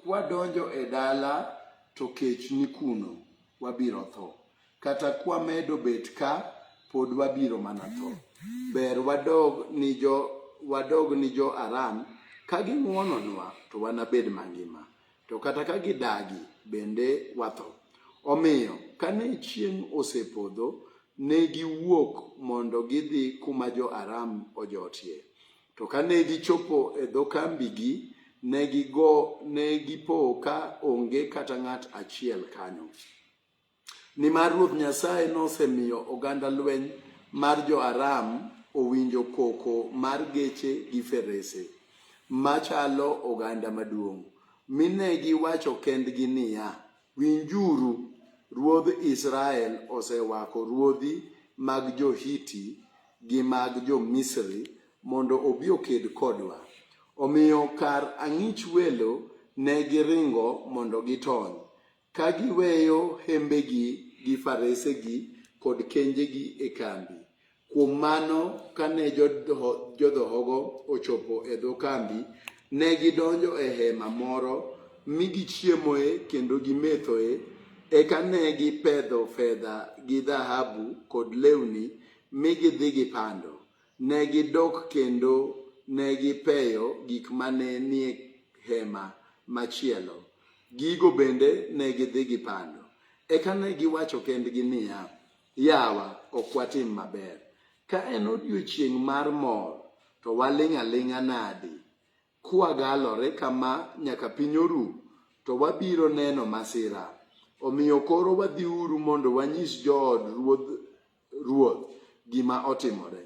Kwadonjo e dala to kech ni kuno, wabiro tho. Kata kwamedo bet ka, pod wabiro mana tho. Ber wadog ni jo wadog ni jo Aram ka ging'wononwa to wanabed mangima, to kata ka gidagi bende watho. Omiyo, kane chieng' osepodho, ne giwuok mondo gidhi kuma jo-Aram ojotie. To kane gichopo e dho kambigi, ne gigo ne gipo ka onge kata ng'at achiel kanyo. Nimar Ruoth Nyasaye nosemiyo oganda lweny mar jo-Aram owinjo koko mar geche gi ferese, machalo oganda maduong', mi ne giwacho kendgi niya, Winjuru! Ruodh Israel osewako ruodhi mag jo-Hiti gi mag jo-Misri mondo obi oked kodwa. Omiyo kar ang'ich welo ne giringo mondo gitony, ka giweyo hembegi gi faresegi kod kenjegi e kambi. Kuom mano, kane jodhohogo ochopo e dho kambi, ne gidonjo e hema moro mi gichiemoe kendo gimethoe. Eka ne gipedho fedha gi dhahabu kod lewni mi gidhi gipando. Ne gidok kendo ne gipeyo gik mane nie hema machielo. Gigo bende ne gidhi gipando. Eka ne giwacho kendgi niya, Yawa, ok watim maber. Ka en odiechieng' mar mor, to waling' aling'a nadi? Kwagalore kama nyaka piny oru, to wabiro neno masira. Omiyo koro wadhiuru mondo wanyis jood ruodh ruoth gima otimore.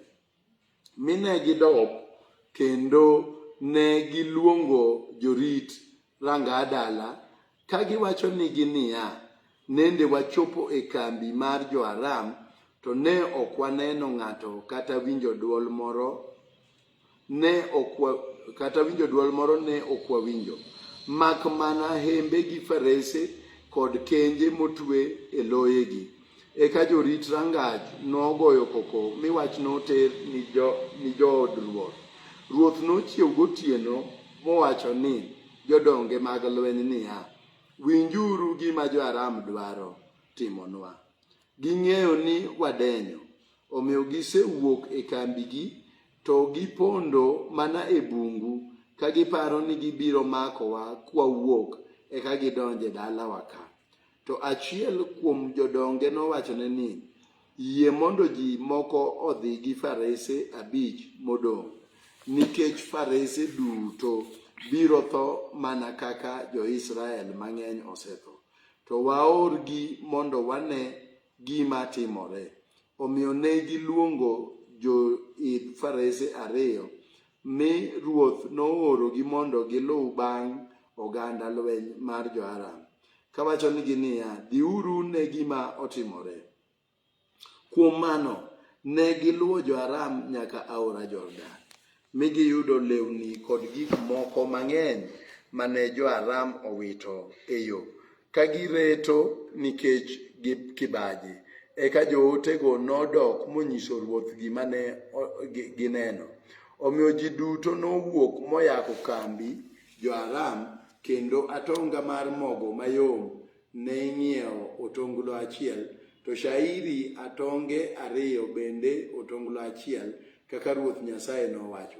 mine gidok kendo ne giluongo jorit ranga dala ka giwacho nigi niya, nende wachopo e kambi mar jo-Aram to ne ok waneno ng'ato kata winjo dwol moro ne ok kata winjo dwol moro ne ok wawinjo mak mana hembe gi farese kod kenje motwe e loyegi. Eka jorit rangach nogoyo koko mi wach noter ni jood ruoth. Ruoth nochiew gotieno mowacho ni jodonge mag lweny niya, Winjuru gima jo-Aram dwaro timonwa. Ging'eyo ni wadenyo, omiyo gisewuok e kambigi to gipondo mana e bungu ka giparo ni gibiro makowa kwawuok eka gidonje dalawa ka. To achiel kuom jodonge nowachone ni, Yie mondo ji moko odhi gi farese abich modong', nikech farese duto biro tho mana kaka jo-Israel mang'eny osetho. To waorgi mondo wane gima timore. Omiyo ne giluongo joidh farese ariyo Mi ruoth noorogi mondo giluw bang' oganda lweny mar jo-Aram, kawachonigi niya, Dhiuru ne gima otimore. Kuom mano, ne giluwo jo-Aram nyaka aora Jordan, mi giyudo lewni kod gik moko mang'eny mane jo-Aram owito e yo Ka gireto nikech kibaji, eka jootego nodok monyiso ruoth gima ne gineno. Omiyo ji duto nowuok moyako kambi jo-Aram, kendo atonga mar mogo mayom ne ing'iewo otonglo achiel, to shairi atonge ariyo bende otonglo achiel, kaka Ruoth Nyasaye nowacho.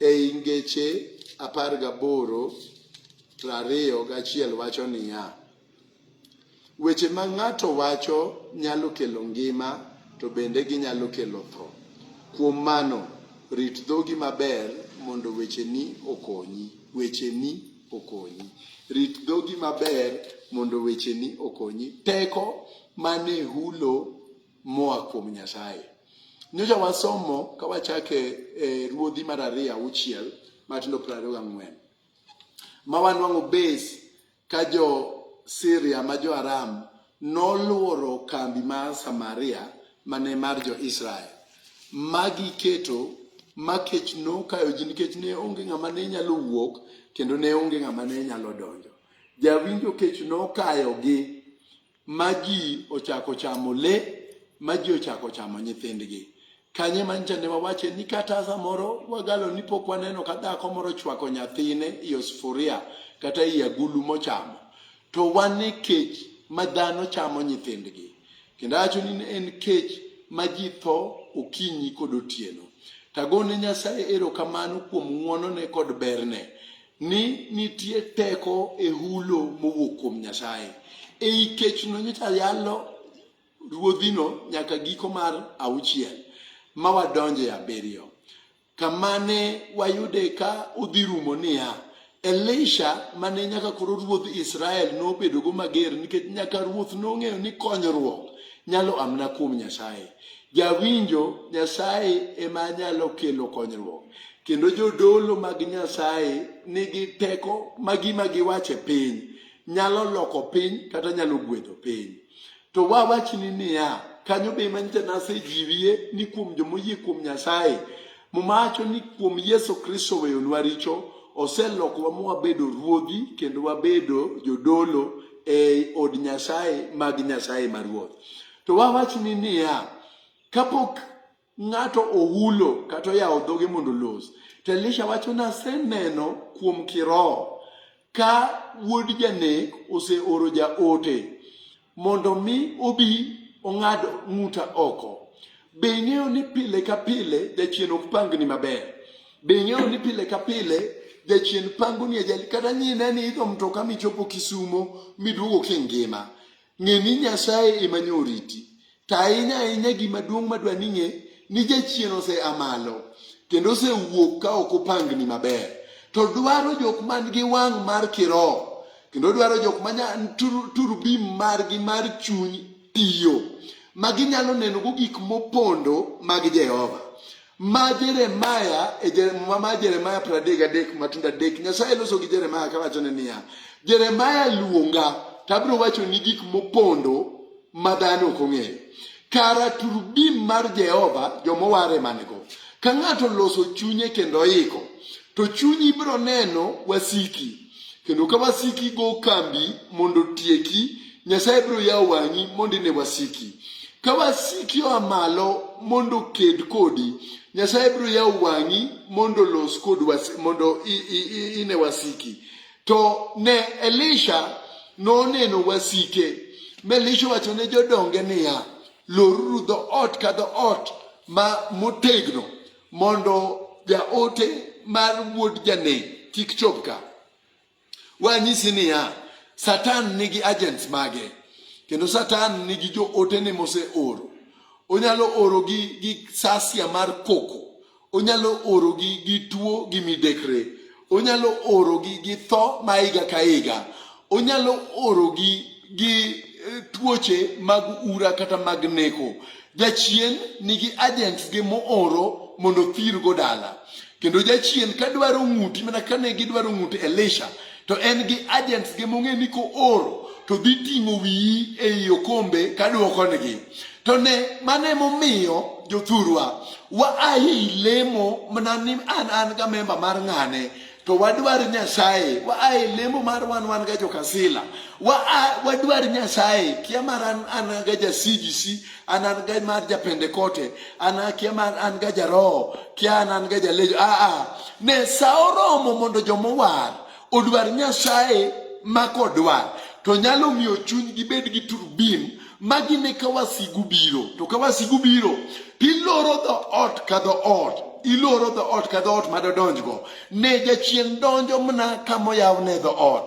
Ei Ngeche apar gaboro prariyo gachiel wacho niya, Weche ma ng'ato wacho nyalo kelo ngima to bende ginyalo kelo tho. Kuom mano, rit dhogi maber mondo wecheni okonyi. Wecheni okonyi. Rit dhogi maber mondo wecheni okonyi. Teko mane hulo moa kuom Nyasaye. Nyocha wasomo ka wachake e ruodhi mar ariyo auchiel matindo piero ariyo gang'wen ma wanwang'o base ka jo Syria ma jo Aram nolworo kambi mar Samaria mane mar jo Israel ma giketo ma kech nokayo ji nikech ne onge ng'ama ne nyalo wuok kendo ne onge ng'ama ne nyalo donjo. Jawinjo kech nokayogi ma ji ochako chamo le, ma ji ochako chamo nyithindgi. Kanye mancha ne wawache ni kata samoro wagalo ni pok waneno ka dhako moro chwako nyathine i osufuria kata i agulu mochamo. To wan e kech ma dhano chamo nyithindgi. Kendo awacho ni en kech ma ji tho okinyi kod otieno. Tagone Nyasaye erokamano kuom ng'wonone kod berne. ni nitie teko e hulo mowuok kuom Nyasaye. Ei kechno nyocha yalo ruodhino nyaka giko mar auchiel ma wadonje abiriyo kamane wayude ka udhi rumo niya Elisha mane nyaka koro ruodh Israel nobedogo mager nikech nyaka ruoth nong'eyo ni konyruok nyalo amna kuom Nyasaye. Jawinjo Nyasaye ema nyalo kelo konyruok, kendo jodolo mag Nyasaye nigi teko ma gima giwacho e piny nyalo loko piny kata nyalo gwedho piny. To wawachni niya, kanyo be ema nyicha nasejiwie ni kuom jomoyie kuom Nyasaye, mumacho ni kuom Yesu Kristo weyonwa richo, oselokowa ma wabedo ruodhi kendo wabedo jodolo ei od Nyasaye mag Nyasaye ma Ruoth. To wawachni niya, kapok ng'ato ohulo kata oyawo dhoge mondo los, to Elisha wacho ni aseneno kuom kiroho ka wuod janek oseoro jaote mondo mi obi ong'ad ng'uta oko. Be ing'eyo ni pile ka pile jachien ok pangni maber? Be ing'eyo ni pile ka pile jachien pangoni ajali kata nyine ni idho mtoka michopo Kisumo miduogo kingima? Ng'e ni Nyasaye ema nyo oriti. To ahinya ahinya gima duong' madwa ni ng'e ni jachien ose amalo kendo osewuok ka ok opangni maber. To dwaro jok man gi wang' mar kiroho kendo dwaro jok ma turbim margi mar chuny tiyo ma ginyalo nenogo gik mopondo mag Jehova. Ma Jeremaya e Jeremaya ma Jeremaya 33 matindo adek Nyasaye loso gi Jeremaya kawachone niya Jeremaya luonga to abiro wacho ni gik mopondo ma dhano ok ong'eyo kara turbin mar Jehova joma oware manigo ka ng'ato loso chunye kendo iko to chunyi ibiro neno wasiki kendo ka wasiki go kambi mondo tieki nyasaye biro yawo wang'i mondo ine wasiki ka wasiki oa malo mondo ked kodi nyasaye biro yawo wang'i mondo los kod mondo ine wasiki to ne elisha noneno wasike ma elisha wacho ne jodonge niya loruru dho ot ka dho ot ma motegno Mondo jaote mar wuod janek kik chop ka. Wanyisi niya, Satan nigi agents mage, kendo Satan nigi jootene moseoro. Onyalo orogi gi sasia mar koko, onyalo orogi gi tuo gi midekre, onyalo orogi gi tho ma higa ka higa onyalo orogi gi eh, tuoche mag ura kata mag neko jachien nigi agents gi mooro mondo othirgo dala kendo jachien ka dwaro ng'uti mana kane gidwaro ng'ut elisha to en gi agents gi mong'e ni kooro to dhi ting'o wiyi ei okombe ka dwokonegi To ne mane momiyo jothurwa wa ahi lemo mana ni an an ga memba mar ng'ane to wadwar Nyasaye wa ahi lemo mar wan wan ga jokasila wa wadwar Nyasaye kia mar an an ga ja CGC an an ga mar ja Pentecote an kia mar an ga ja roho kia an an ga ja lejo a a ne sa oromo mondo jomowar Odwar Nyasaye ma kodwar to nyalo miyo chuny gibed gi turbin ma gine ka wasigu biro. To ka wasigu biro, tiloro dho ot ka dho ot iloro dho ot ka dho ot ma dodonjgo ne jachien donjo mna ka moyaw ne dho ot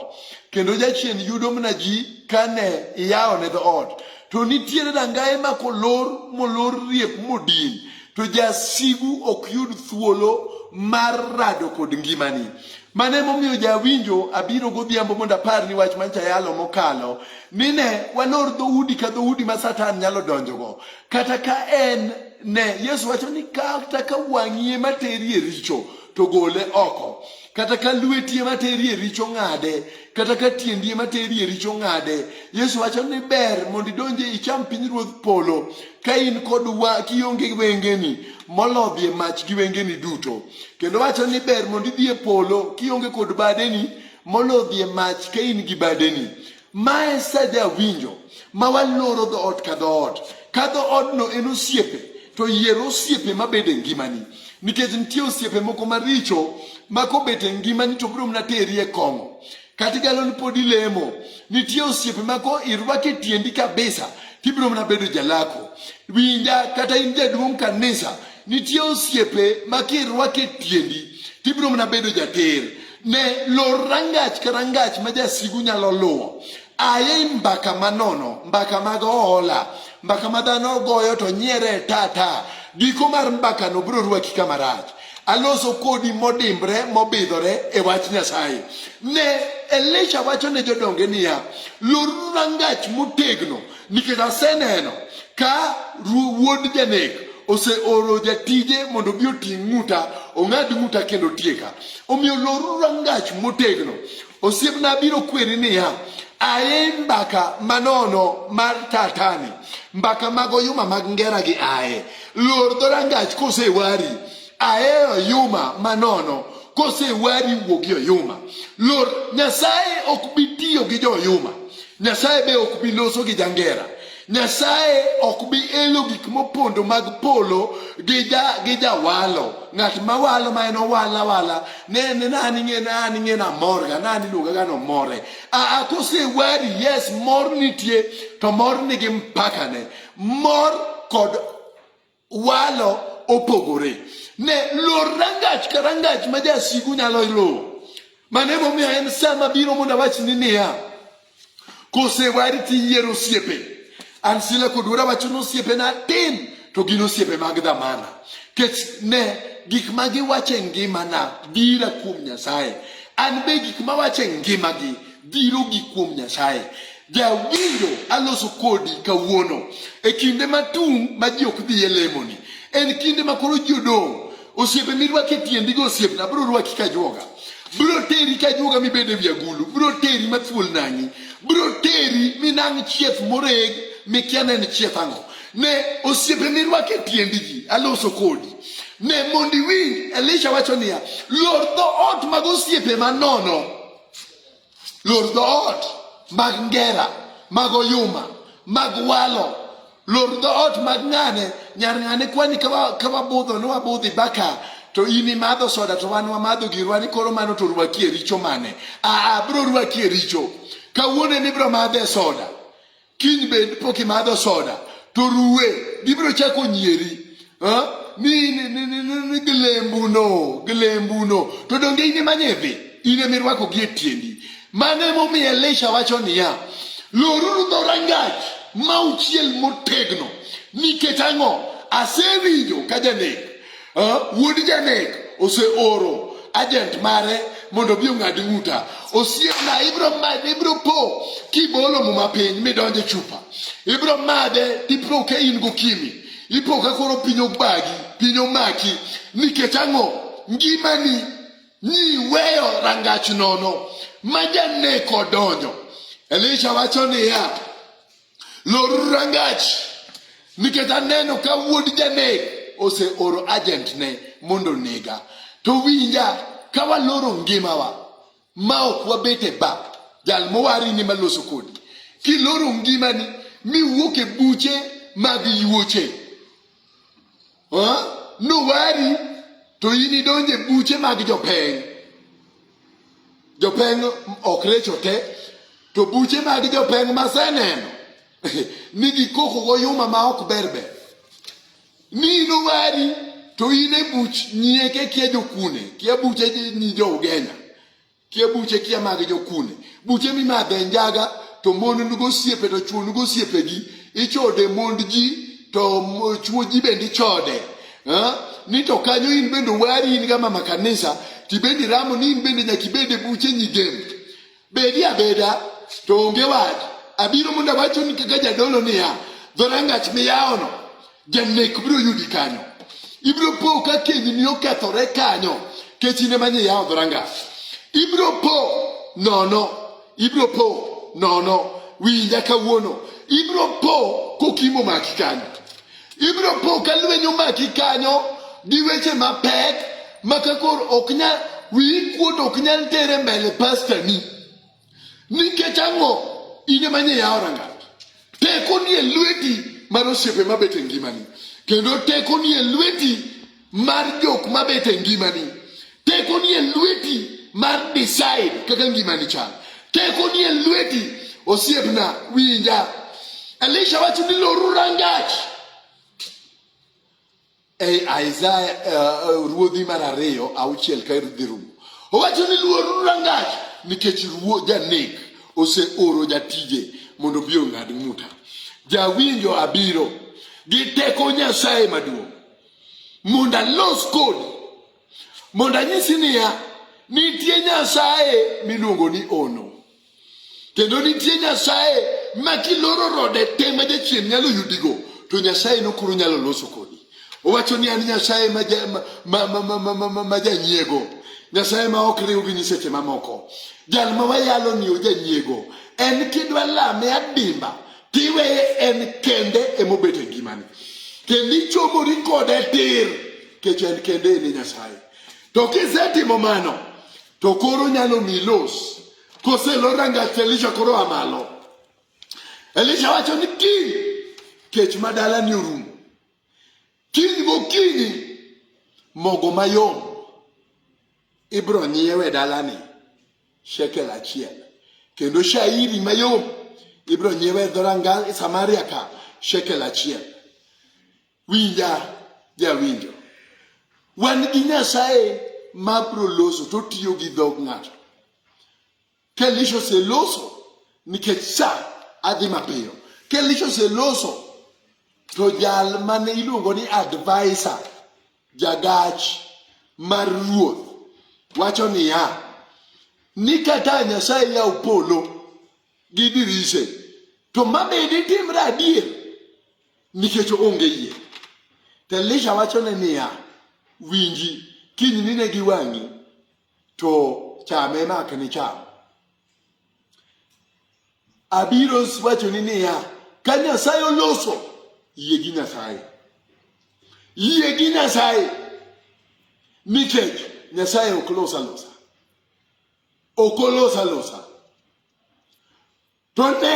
kendo jachien yudo mna ji ka ne iyawo ne dho ot to nitiere dangaye ma kolor molor riep modin to jasigu ok yud thuolo mar rado kod ngimani mane momiyo jawinjo abiro godhiambo mondo apar ni wach mancha yalo mokalo nine walor dhoudi ka dhoudi ma satan nyalo donjogo kata ka en ne yesu wacho ni kata ka wang'ie materie richo to gole oko kata ka lwetie materie richo ng'ade kata ka tiendi ema teri e richo ng'ade. Yesu wacho ni ber mondo idonje icham pinyruodh polo ka in kod wa kionge wengeni molodhi e mach gi wengeni duto. Kendo wacho ni ber mondo idhi e polo kionge kod badeni molodhi e mach ka in gi badeni. Mae sa jawinjo ma waloro dhoot ka dhoot ka dhoodno en osiepe to yier osiepe mabede ngimani. nikech nitie osiepe moko maricho ma kobet e ngimani to biro mana teri e kong'o kata igalo ni pod ilemo nitie osiepe ma ko irwake tiendi kabisa tibiro mana bedo jalako winja kata in jaduong' kanisa nitie osiepe ma kirwake tiendi tibiro mana bedo jater ne lor rangach ka rangach ma jasigu nyalo luwo aye mbaka manono mbaka mag oola mbaka ma dhano goyo to nyiere tata giko mar mbakano biro rwaki kama rach aloso kodi modimbre mobidhore e wach nyasaye ne elisha wacho ne jodonge niya loruru rangach motegno nikech aseneno ka wuod janek oseoro jatije mondo obi oting' ng'uta ong'ad ng'uta kendo tieka omiyo loruru rangach motegno Osiepna biro kweri niya, aye mbaka manono mar tatani, mbaka mag oyuma mag ngera gi aye. Lor dho rangach kosewari, aye oyuma manono kosewari wuo gi oyuma. Lor Nyasaye ok bi tiyo gi jo oyuma. Nyasaye be ok bi loso gi jangera. Nyasaye ok bi elo gik mopondo mag polo gi ja gi jawalo ng'at ma walo ma en owala wala ne ne nani ng'e nani ng'e na mor ga nani luonga ga no more a a kose wari yes mor nitie to mor nigi mpaka ne mor kod walo opogore ne lor rangach ka rangach ma jasigu nyalo luwo mane momiyo en sama biro mondo awachni niya kosewari tiyiero osiepe an sila kod wuora wacho ni osiepe na tin to gin osiepe mag dhamana kech ne gik ma giwacho e ngimana bira kuom nyasaye an be gik ma wacho e ngimagi biro gi kuom nyasaye Jawinjo aloso kodi kawuono e kinde matung' ma ji ok dhi e lemoni. En kinde ma koro ji odong'. Osiepe mirwako e tiendi go osiepna biro rwaki ka juoga. Biro teri ka juoga mibed e wi agulu. Biro teri ma thuol nang'i. Biro teri minang' chieth moreg mikia ne en chieth ang'o. Ne osiepe mirwako e tiendi ji aloso kodi. Ne mondi winj Elisha wacho niya, lor dho ot mag osiepe manono. Lor dhoot mag Ngera, mag Oyuma, mag Walo, lor dhoot mag Ng'ane, nyar Ng'ane kwani ka wabudho ni wabudhi baka to in imadho soda to wan wamadho girwa ni koro mano to rwaki e richo mane? Aa, bro rwaki e richo. Kawuono ema ibro madhe soda. kiny bed pok imadho soda to ruwe gibiro chako nyieri ni gilembuno gilembuno to donge in ema nyedhi in ema irwako gi e tiendi mano emomiyo elisha wacho niya loruru dho rangach ma uchiel motegno nikech ang'o asewinjo ka janek wuod janek oseoro ajent mare mondo obi ong'ad ng'uta osiepna ibro made ibro po kibolo muma piny midonje chupa ibro made tipro ka in gokimi ipo ka koro piny obagi piny omaki nikech ang'o ngimani nyiweyo rangach nono ma janek odonjo elisha wacho niya Lor rangach nikech aneno ka wuod janek oseoro agentne mondo nega. To winja ka waloro ngimawa ma ok wabet e ba jal mowarini maloso kodi. Kiloro ngimani miwuok e buche mag yuoche nowari to in idonje buche mag jopeng jopeng ok recho te to buche mag jopeng maseneno ni gikoko goyuma ma ok berber ni inowari to in e buch nyieke kia jokune kia buche nyi jo ugenya kia buche kia magi jokune buche mimadhe njaga to mon nugo osiepe to chuo nugo osiepegi ichode mond ji to chuo ji bende ichode ni to kanyo in bende wari in ga mama kanisa tibendi ramo ni in bende nyaka ibede buche nyigem bedi abeda to onge wach abiro mondo awachoni kaka jadolo niya dhorangach miyawono Janek biro yudi kanyo. Ibiro po ka kendi ni okethore kanyo. Kech in ema nye yawo dhoranga. Ibiro po nono. Ibiro po nono. Winja kawuono. Ibiro po kokimo maki kanyo. Ibiro po ka lweny omaki kanyo gi weche mapek ma kakor ok nyal wiyi kuot ok nyal tere mbele pastani. Nikech ang'o? In ema nye yawo rangach. Teko ni e lweti mar osiepe mabet e ngimani, kendo teko ni e lweti mar jok mabet e ngimani. Teko ni e lweti mar decide kaka ngimani chal. Teko ni e lweti osiepna, winja. Elisha wacho ni loru rangach Ei Isaya uh, uh, ruodhi mar ariyo auchiel ka dhi rumo owacho ni luoruru rangach nikech ruo janek oseoro jatije mondo bi ong'ad ng'uta jawinjo abiro gi teko nyasaye maduong' mondo alos kodi mondo anyisi niya nitie nyasaye miluongo ni ono kendo nitie nyasaye ma kiloro rode te ma jachien nyalo yudigo to nyasaye no koro nyalo loso kodi owacho ni an nyasaye ma ja- ma- ma- ma- ma- ma- ma- ma- ma janyiego nyasaye ma ok riw gi nyiseche mamoko jal ma wayalo ni ojanyiego en kidwa lame adimba tiweye en kende emobet e ngimani kendo ichomori kode tir kech en kende ene nyasaye to kisetimo mano To koro nyalo mi los. Koselor rangach to Elisha koro a malo. Elisha wacho ni kiny kech ma dalani orumo. Kiny gokinyi mogo mayom ibiro nyiewe e dalani shekel achiel kendo shairi mayom ibiro nyiewe e dho ranga e Samaria ka shekel achiel. Winja jawinjo, wan gi Nyasaye ma bro loso to tiyo gi dhog ng'ato. Kelisha oseloso nikech sa adhi mapiyo. Kelisha oseloso to jal mane iluongo ni advisor jagach mar ruoth wacho niya ni kata Nyasaye yaw polo gi dirise to ma be ditimre adier nikech onge yie to elisha wachone niya winji kiny nine gi wang'i to chame mak ni cham abiro wachoni niya ka nyasaye oloso yie gi nyasaye yie gi nyasaye nikech nyasaye ok los alosa ok olosa losa to ne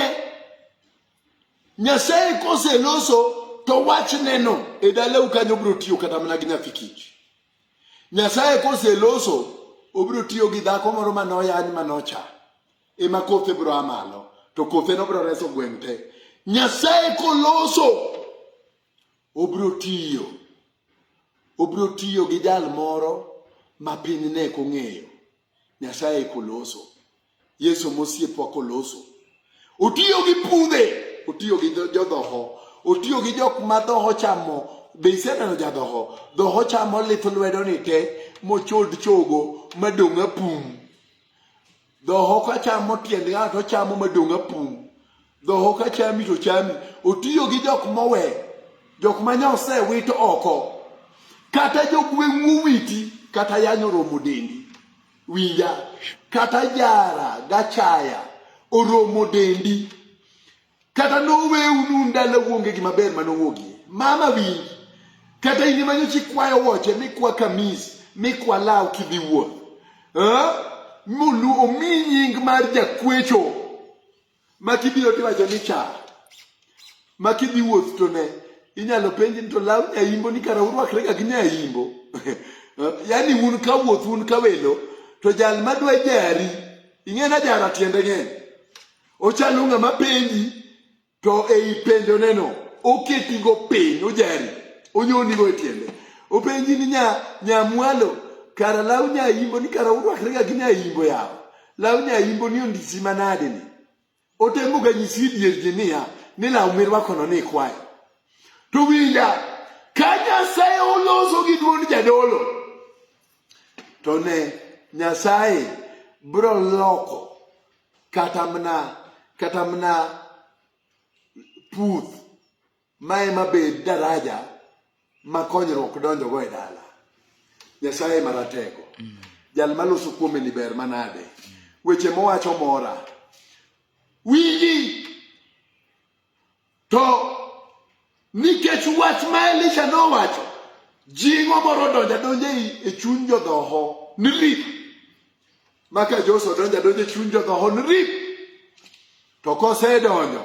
nyasaye koseloso to wachneno e dalau kanyo obiro tiyo kata mana gi nyathi kich nyasaye koseloso obiro tiyo gi dhako moro manoyany manocha ema kothe biro amalo to kothe no biro reso gweng' te nyasaye koloso Obiro tiyo. Obiro tiyo gi jal moro ma piny ne kong'eyo. Nyasaye koloso. Yesu mosiepwa koloso. Otiyo gi pudhe. Otiyo gi jodhoho. Otiyo gi jok ma dhoho chamo. Be iseneno jadhoho? Dhoho chamo lith lwedo ni te mochod chogo madong' apum. Dhoho ka chamo tiend ng'ato chamo madong' apung'. Dhoho ka chami to chami. Otiyo gi jok mowe, jok ma nyose wit oko. Kata jogweng'u owiti, kata yanyo romo dendi. Winja, kata jara gachaya oromo dendi. kata noweu nu ndalo wuonge gi maber ma nowuogie mama winj kata in manyo chi kwayo woche mi kwa kamis mi kwa law kidhi wuoth eh? mulu omi nying mar jakwecho ma kibiro tiwacho ni cha ma kidhi wuoth to ne inyalo penji ni to law nyaimbo ni kara urwakre ga gi nyaimbo eh? yani un ka wuoth un ka welo to jal madwa jari ing'e na jara tiende ng'eny Ochalo ng'ama penji to ei penjoneno oketigo piny ojari onyonigo e tiende openji ni nya nyamwalo kara law nyaimbo ni kara urwakrega gi nyaimbo yawo law nyaimbo ni ondisi manade ni otemoga nyisi dier ji niya ni law mirwakono ni ikwayo to winja ka nyasaye oloso gi duond jadolo to ne nyasaye bro loko kata mna kata mna puth ma ema bed daraja ma konyruok donjogo e dala nyasaye maratego mm. jal maloso kuome ni ber manade mm. weche mowacho mora winji To nikech wach ma Elisha nowacho, jingo moro odonjo adonja e chuny jodhoho ni rip. Maka Joshua odonjo adonja e chuny jodhoho ni rip. To kosedonjo,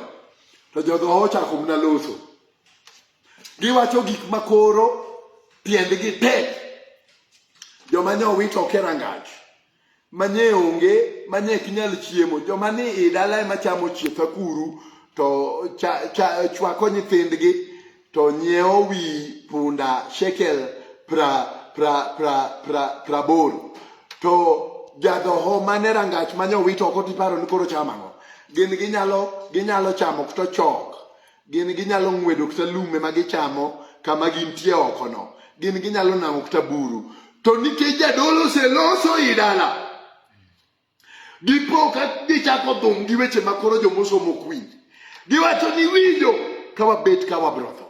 to jodhoho ochako mna loso. Giwacho gik makoro tiendgi tek. Joma nyowito ok e rangach. manye onge manye kinyal chiemo joma ni i dala ema chamo chieth akuru to cha, cha, chwako nyithindgi to nyiewo wi punda shekel pra pra pra pra praboro to jadhoho mane rangach manye owit oko tiparo ni koro chamo ang'o gin ginyalo ginyalo chamo to chok Gin ginyalo ng'wedo kata lum ema gichamo kama gintie okono. Gin ginyalo nang'o kata buru. To nikech jadolo oseloso i dala, gipo ka gichako dhum gi weche ma koro jomosomo ok winj. Giwacho ni winjo ka wabet ka wabiro tho.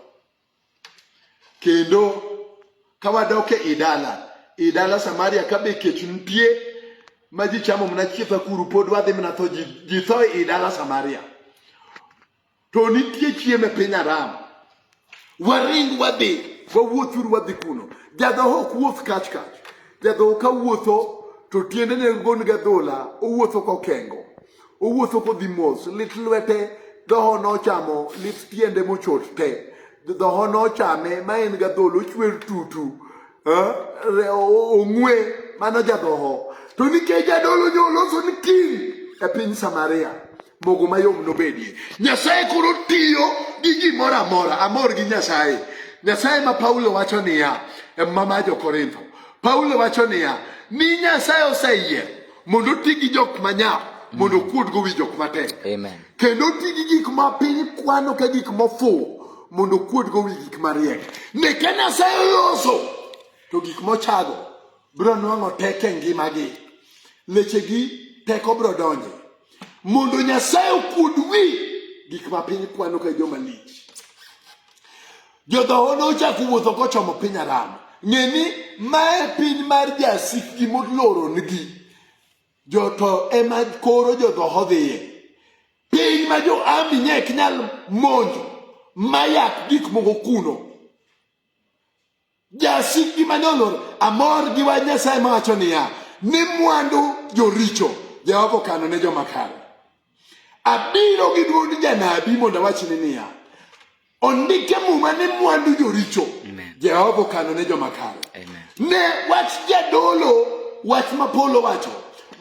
Kendo ka wadok e i dala, i dala Samaria ka be kech nitie ma ji chamo mana chieth akuru pod wadhi mana tho, ji tho i dala Samaria. to nitie chiemo e piny aram waring wadhi wawuothuru wadhi kuno jadhoho ok wuoth kach kach jadhoho ka wuotho to tiendene gon gadhola owuotho kokengo owuotho kodhi mos lit lwete dhoho nochamo lit tiende mochot te dhoho nochame ma en gadhola ochwer tutu eh, re- o- ong'we mano jadhoho to nikech jadolo nyoloso ni king e piny samaria mogo mayom nobedie. Nyasaye koro tiyo gi gimoro amora, amor gi Nyasaye. Nyasaye ma Paulo wacho niya, e mama jo Korintho. Paulo wacho niya, ni Nyasaye oseyier mondo oti gi jok manyap mondo mm. okuodgo wi jok matek. Amen. Kendo oti gi gik ma piny kwano ka gik mofuwo mondo okuodgo wi gik mariek. Neke Nyasaye oloso to gik mochago bro nwang'o teke ngimagi lechegi teko bro donje mondo nyasaye okuod wi gik ma piny kwano ka joma lich jodhoho nochako wuotho kochomo piny aram ng'e ni mae piny mar jasikgi moloronigi joto ema koro jodhoho dhiye piny ma jo ami nye ok nyal monjo mayak gik moko kuno Jasik gi mane olor amor gi wach Nyasaye mawacho niya ni mwandu joricho Jehova okano ne joma kare. Abiro gi dwond janabi mondo awachni niya ondike muma ni mwandu joricho Jehova okano ne joma kare. Ne wach jadolo wach ma Paulo wacho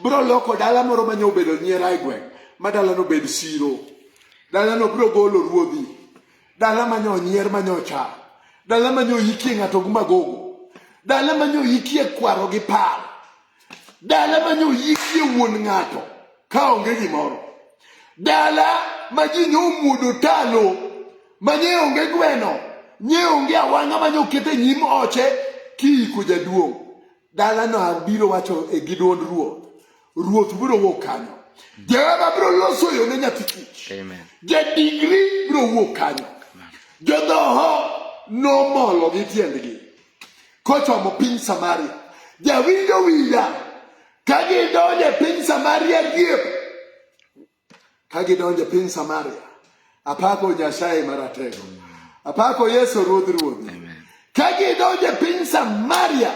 bro loko dala moro manye obedo nyiera e gweng' ma dalano bed siro dalano bro golo ruodhi dala manyo onyier manyo ocha dala manyo oyikie ng'ato gi magogo dala manyo oyikie kwaro gi paro dala manyo oyikie wuon ng'ato ka onge gimoro dala ma ji nyo omuodo talo ma nye onge gweno nye onge awang'a manyo okete nyim oche kiiko jaduong' Dalano abiro wacho e gi dwond ruoth, ruoth biro wuok kanyo. Jehova biro loso yo ne nyathi kich. Jadigri biro wuok kanyo. Jodhoho nomolo gi tiendgi kochomo piny Samaria. Jawinjo winja ka gidonjo e piny Samaria diep Ka gidonjo piny Samaria, apako Nyasaye Maratego, apako Yesu Ruodh Ruodhi. Ka gidonjo piny Samaria,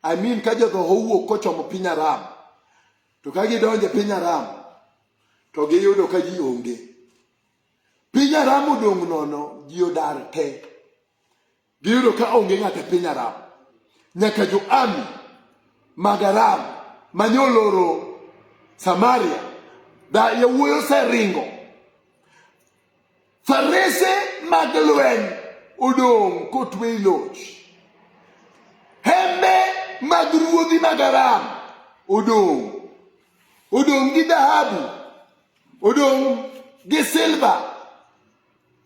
I mean ka jodho owuok kochomo piny Aram, to ka gidonjo piny Aram, to giyudo ka ji onge. Piny Aram odong' nono, ji odar te. Giyudo ka onge ng'ato e piny Aram, nyaka jo-Ami mag Aram mane oloro Samaria, da yawuoyi oseringo, farese mag lweny odong' kotwe i loch, hembe mag ruodhi mag Aram odong' odong' gi dhahabu, odong' gi silva,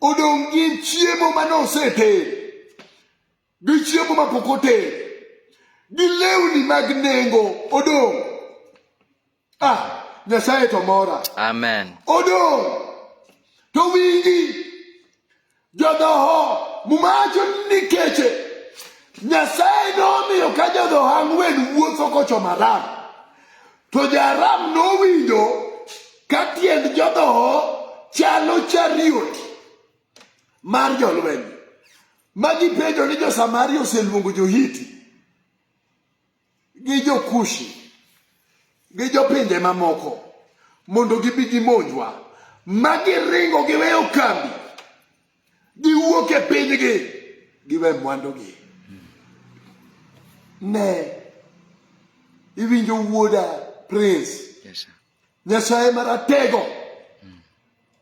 odong' gi chiemo ma noseted gi chiemo ma pok oted gi lewni mag nengo odong' ah nyasaye to mora amen odong' to wingi jodhoho mumacho ni keche nyasaye nomiyo ka jodhoho ang'wen wuotho kocho maram To Jaram nowinjo ka tiend jodhoho chalo chariot mar jolweny ma gipenjo ni jo-Samaria oseluongo jo-Hiti gi jo-Kushi gi jopinje mamoko mondo gibi gimonjwa ma giringo giweyo kambi Giwuok e pinygi, giwe mwandugi. Ne, iwinjo wuoda Prince. Yes, sir. Nyasaye maratego. Mm.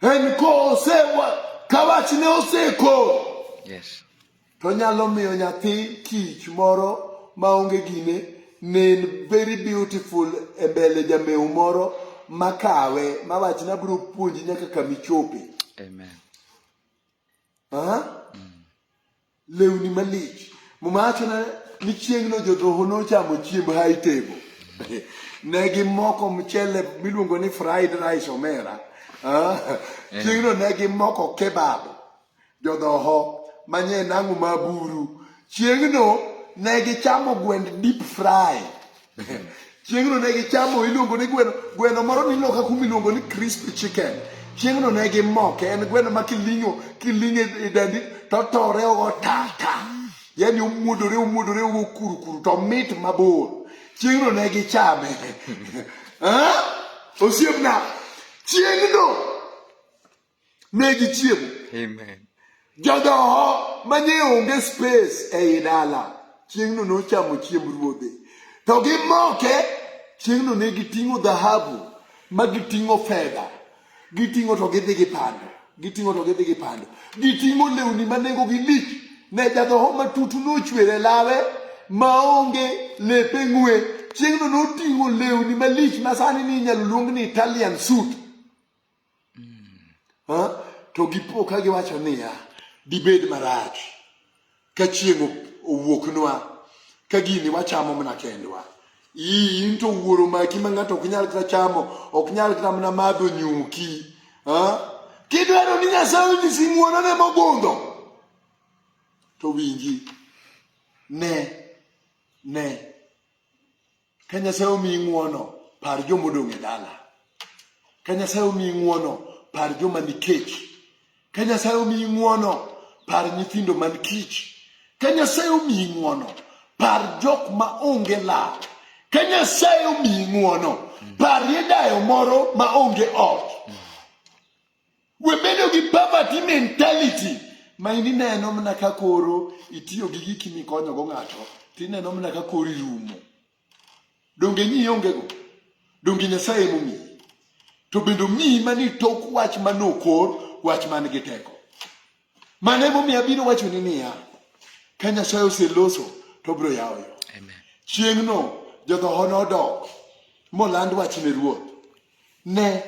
En ko osewa, kawachne oseko. Yes. To nyalo miyo nyathi kich moro maonge gine nen very beautiful e mbele jamew moro makawe mawach ni abiro puonji nyaka kama ichope. Amen. Ah? Mm. Lewni malich. Muma wacho ni chieng'no jodhoho nochamo chiemb high table. ne gimoko mchele miluongo ni fried rice omera. Ah? Chieng'no ne gimoko kebab. Jodhoho manye nang'o ma buru. Chieng'no ne gichamo gwend deep fry. Chieng'no ne gichamo iluongo ni gweno gweno moro ni loka kuma iluongo ni crispy chicken. Chieng'no ne gimoke en gweno ma kiling'o kiling'e e dandi to otore ogo ta ta. Yaani omuodore omuodore ogo kuru kuru to mit mabor. Chieng'no ne gichame. Ah? Osiepna chieng'no ne gichiemo Amen. jodhoho mane onge space ei dala chieng'no nochamo chiemb ruodhe to gimoke chieng'no ne giting'o dhahabu ma giting'o fedha giting'o to gidhi gipando giting'o to gidhi gipando giting'o lewni ma nengogi lich ne jadhoho matutu nochwere lawe maonge lepe ng'we chieng'no noting'o lewni malich ma sani ni inyalo luong ni italian suit Ha? To gipo ka giwacho niya, dibed marach ka chieng' op- owuoknwa ka gini wachamo mana kendwa. Ii, in to wuoro maki ma ng'ato ok nyal kata chamo, ok nyal kata mana madho nyuki. Ha? Kidwaro ni Nyasaye onyisi ng'wonone mogundho, to winji, ne, ne, Ka Nyasaye omiyi ng'wono, par joma odong' e dala. Ka Nyasaye omiyi ng'wono, par joma ni kech. Ka Nyasaye omiyi ng'wono, par nyithindo man kich. Ka Nyasaye omiyi ng'wono, par jok ma onge lal. Ka Nyasaye omiyi ng'wono, parie dayo moro ma onge ot. Webedo gi poverty mentality ma in ineno mana ka koro itiyo gi giki mikonyogo ng'ato to ineno mana ka koro irumo. Donge nyi ongego? Donge Nyasaye emomiyi? To bende omiyi mani tok wach manokor wach man gi teko. Mano emomiyo abiro wachoni niya, ka Nyasaye oseloso to obiro yawo yo. Amen. Chieng'no jodhoho nodok moland wach ne ruoth. Ne,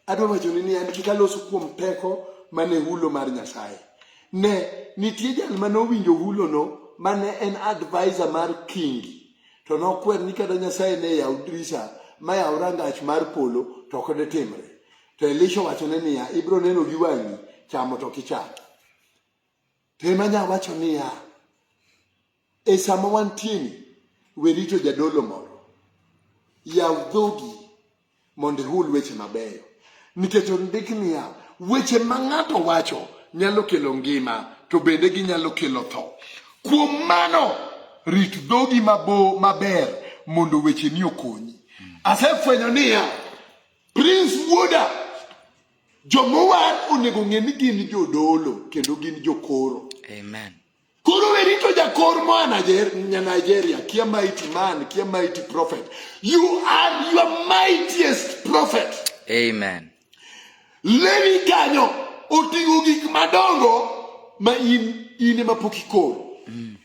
adwa wachoni niya, ni kik alosu kuom teko mane hulo mar Nyasaye. Ne, nitie jal mane owinjo hulono mane en advisor mar kingi, to nokwer ni kata Nyasaye ne yaw dirisa ma yaw rangach mar polo to ok detimre. To Elisha owachone niya, ibiro neno gi wang'i, chamo to kicham. To ema nya wacho niya, e sama wantieni, we rito jadolo moro, yaw dhogi mondo ihul weche mabeyo, nikech ondik niya, weche ma ng'ato wacho nyalo kelo ngima to bende ginyalo kelo tho. Kuom mano, rit dhogi mabo maber mondo wecheni okonyi. Asefwenyo niya, Prince Wuoda, jomowar onego ng'e ni gin jodolo kendo gin jokoro. Amen. Koro we rito jakor moa Nigeria, kia mighty man, kia mighty prophet. You are your mightiest prophet. Amen. Levi kanyo oting'o gik madongo ma in in ema pok ikoro. Mm.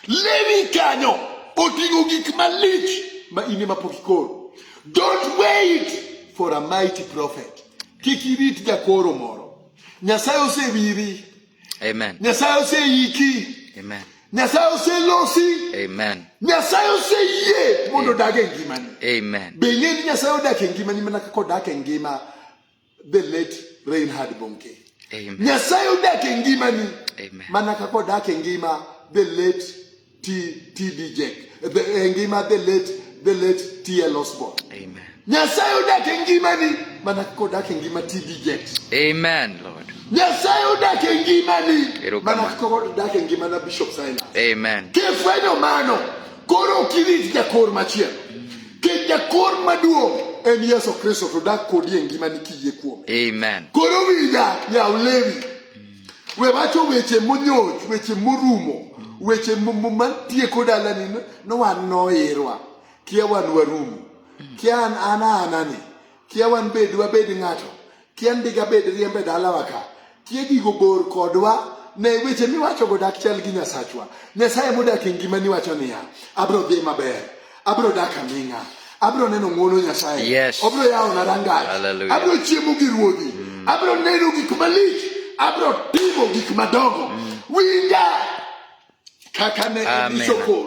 Levi kanyo oting'o gik malich ma in ema pok ikoro. Don't wait for a mighty prophet. Kik irit jakoro moro. Nyasaye osewiri. Amen. Nyasaye oseiki. Amen. Nyasaye oselosi. Amen. Nyasaye oseyie mondo odag e ngimani. Amen. Be ing'e ni Nyasaye odak e ngimani mana kaka odak e ngima the late Reinhard Bonke. Amen. Nyasaye odak e ngimani Amen. mana kaka odak e ngima the late T- TD Jack, the- e ngima the late the late TL Osborne. Amen. Nyasaye odak e ngimani mana kaka odak e ngima TD Jack. Amen, Lord. Nyasaye odak e ngimani Erokamano. mana kaka odak e ngima na Bishop Silas. Amen. Kifwenyo mano, koro ok irit jakor machielo. Nikech jakor maduong' en Yesu Kristo to dak kodi e ngimani kiyie kuome. Amen. Koro winja yaw lewi. We wacho weche monyoch, weche morumo, weche m- m- matieko dalani no- no wan noirwa. Kia wan warumo. Kia an an anani. Kia wan bed wabed ng'ato. Tiend diga bed riembe dalawa ka. Tie gigo bor kodwa ne weche miwachogo dak chal gi Nyasachwa. Nyasaye modak e ngima ni wacho niya, abro dhi maber, abro dak aming'a, abro neno ng'wono Nyasaye, yes. abro yawona rangach, abro chiemo gi ruodhi, mm. abro neno gik malich, abro timo gik madongo. Mm. Winja kaka ne iso kor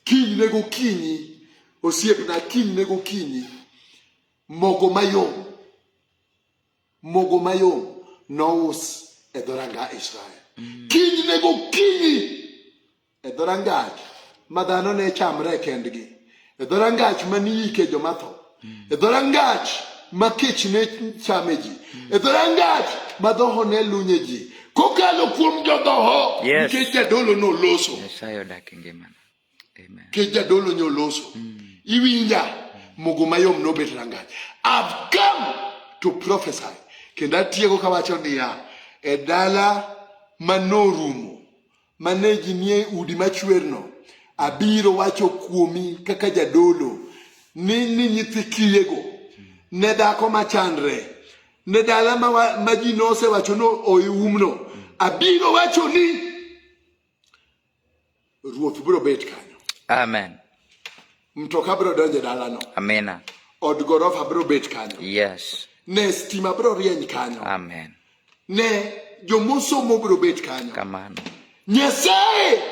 kinyne gokinyi, osiepna kinyne gokinyi mogo mayom mogo mayom nous e dhoranga israel mm. kiny ne gokinyi e dhorangach ma dhano ne chamre e kendgi e dhorangach ma niyike joma tho mm. e dhorangach ma kech ne chame ji mm. e dhorangach ma dhoho ne lunye ji kokalo kuom jodhoho nikech jadolo noloso Kech jadolo nyoloso. Mm. Iwinja mogo mayom nobet rangach. I've come to prophesy. Kendo atieko kawacho niya, e dala manorumo, mane ji nie udi machwerno, abiro wacho kuomi kaka jadolo ni ni nyithi kiyego ne dhako machandre ne dala ma ji nosewacho no oiumno abiro wacho ni ruoth biro bet kanyo amen mtoka biro donjo e dalano amina od gorofa biro bet kanyo yes ne stima biro rieny kanyo amen ne jomosomo biro bet kanyo kamano nyasaye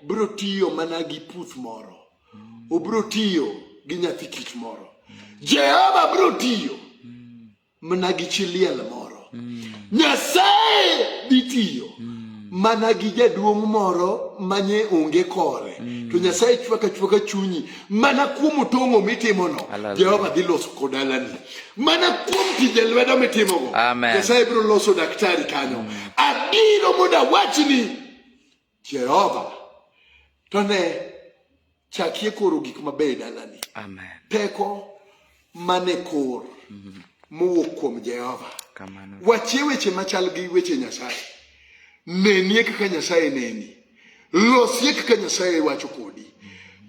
biro tiyo mana gi puth moro obiro tiyo gi nyathi kich moro jehova biro tiyo mana gi chi liel moro nyasaye dhi tiyo mana gi jaduong' moro manye onge kore to nyasaye chwaka chwaka chunyi mana kuom otong'o mitimono Hallelujah. jehova dhi loso kodalani mana kuom tije lwedo mitimogo Amen. nyasaye biro loso daktari kanyo abiro mondo awachni Jehova to ne chakie koro gik mabeyo e dalani. Amen. Teko mane kor mhm. mowuok kuom Jehova. Kamano. Wachie weche machal gi weche Nyasaye. Nenie kaka Nyasaye neni. Losie kaka Nyasaye wacho kodi.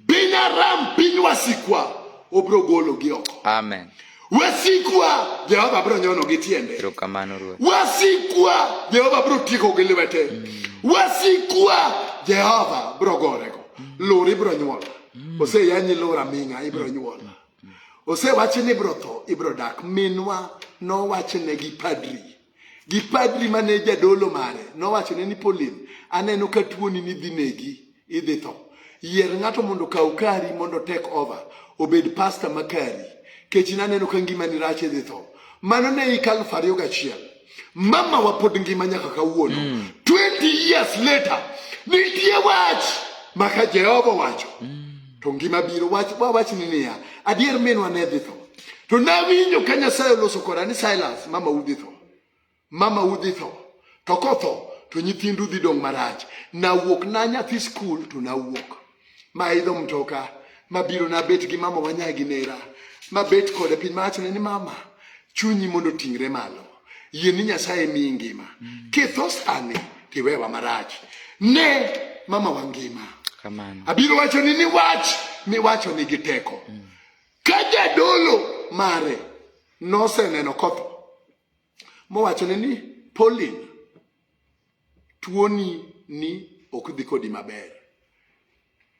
Piny Aram, piny wasikwa, obiro gologi oko. Amen. Wasikwa Jehova biro nyono gi tiende. Erokamano Ruoth. Wasikwa Jehova biro tieko gi lwete. Mm. Wasikwa Jehova biro gorego. Mm. Lori biro nyuol. Mm. Ose yanyi lora minga ibiro nyuol. Ose wachi ni biro tho ibiro dak. Minwa no wachne gi padri. gi padri mane jadolo mare nowachone ni Pauline, aneno ka tuoni ni dhi negi, idhi tho. Yier ng'ato mondo kaw kari mondo take over, obed pasta ma kari. Kech naneno ka ngima ni rach idhi tho. Mano ne hik aluf ariyo gachiel. Mama wa pod ngima nyaka kawuono. Mm. 20 years later, nitie wach maka Jehova wacho. Mm. to ngima biro. Wach wawachni niya, adier minwa ne dhi tho. To nawinjo ka Nyasaye oloso koda ni Silas, mama udhi tho. Mama udhi tho. To kotho to nyithindu dhi dong' marach. Nawuok na nyathi skul to nawuok. Ma idho mtoka mabiro nabet gi mama wanyagi nera mabet kode piny mawachone ni mama chunyi mondo ting're malo yie ni nyasaye miyi ngima mm. kitho sani tiwewa marach ne mama wa ngima Kamano. abiro wacho ni ni wach miwacho nigi teko mm. ka jadolo mare noseneno kotho mowachone ni polin tuoni ni ok dhi kodi maber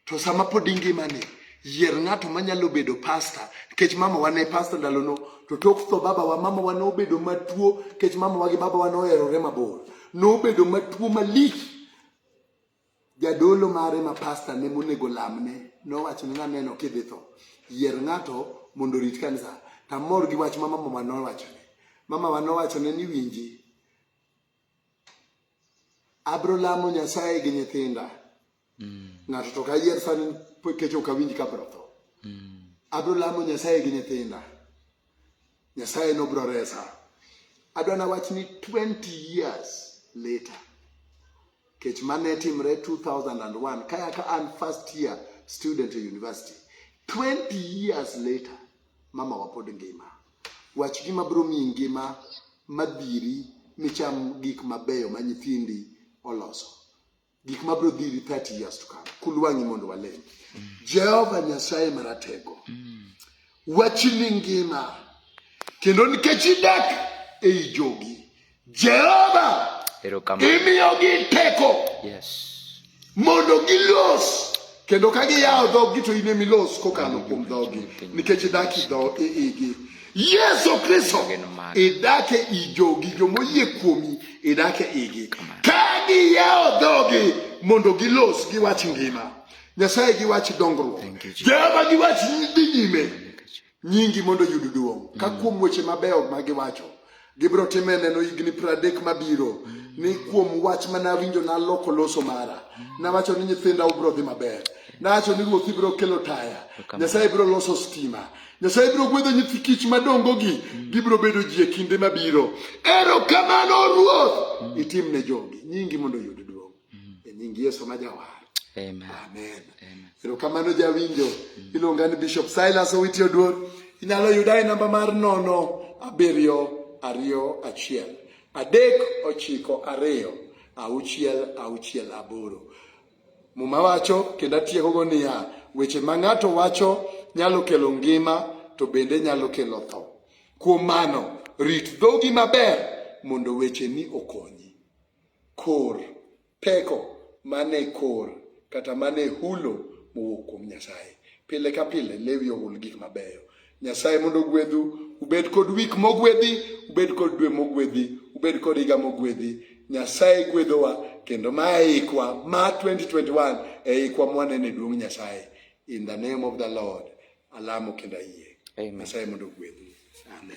to sama pod ingimani yier ng'ato manyalo bedo pasta nikech mama wa ne pasta ndalono to tok tho babawa mama wa nobedo matuo nikech mama wa gi babawa noherore mabor nobedo matuo malich jadolo mare ma pasta ne monego lamne nowacho ni naneno kidhi tho yier ng'ato mondo orit kanisa tamor gi wach ma mama wa nowachone mama wa nowachone ni winji abro lamo nyasaye gi nyithinda mm. ng'ato to kayier san kech ok awinj ka bro tho mm. abro lamo nyasaye gi nyithinda nyasaye nobro resa adwa nawach ni 20 years later kech mane timre 2001 kaya ka an first year student e university 20 years later mama wa pod ngima wach gima biro miyi ngima madhiri micham gik mabeyo ma nyithindi oloso gik ma biro dhiri 30 years to come kulwang'i mondo walem jehova nyasaye maratego wachni ngima kendo nikech idak ei jogi Jehova imiyogi teko mondo gilos kendo ka giyawo dhogi to in emilos kokalo kuom dhogi nikech idak idho igi yesu kristo idak e i jogi jomoyie kuomi idak e igi ka giyawo dhogi mondo gilos giwach ngima nyasaye giwach dongruok jehova giwach dhi nyime Nyingi mondo oyud duong'. Ka mm. kuom weche mabeyo ma giwacho, gibiro time e neno higni pradek mabiro mm. ni kuom wach ma nawinjo naloko loso mara. Mm. Nawacho ni nyithinda ubiro dhi maber. Nawacho ni ruoth ibiro kelo taya. Nyasaye biro loso stima. Nyasaye biro gwedho nyithi kich madongogi. Gibiro bedo ji e kinde mabiro. Erokamano ruoth! Itimne jogi. Nyingi mondo oyud duong'. mm. e nying Yesu ma jawar. Amen. Amen. Amen. Erokamano jawinjo. Mm. Iluonga ni Bishop Silas Owiti Oduor. Inyalo yuda e namba mar nono abiriyo ariyo achiel adek ochiko ariyo auchiel auchiel aboro. Muma wacho kendo atiekogo niya, weche ma ng'ato wacho nyalo kelo ngima to bende nyalo kelo tho. Kuom mano, rit dhogi maber mondo wecheni okonyi. kor peko mane kor kata mane hulo mowuok kuom Nyasaye. Pile ka pile lewi ohul gik mabeyo. Nyasaye mondo ogwedhu, ubed kod wik mogwedhi, ubed kod dwe mogwedhi, ubed kod higa mogwedhi. Nyasaye gwedhowa kendo ma eikwa ma 2021 eikwa mwanene duong' Nyasaye. In the name of the Lord, alamo kendo ayie. Nyasaye mondo ogwedhu. Amen.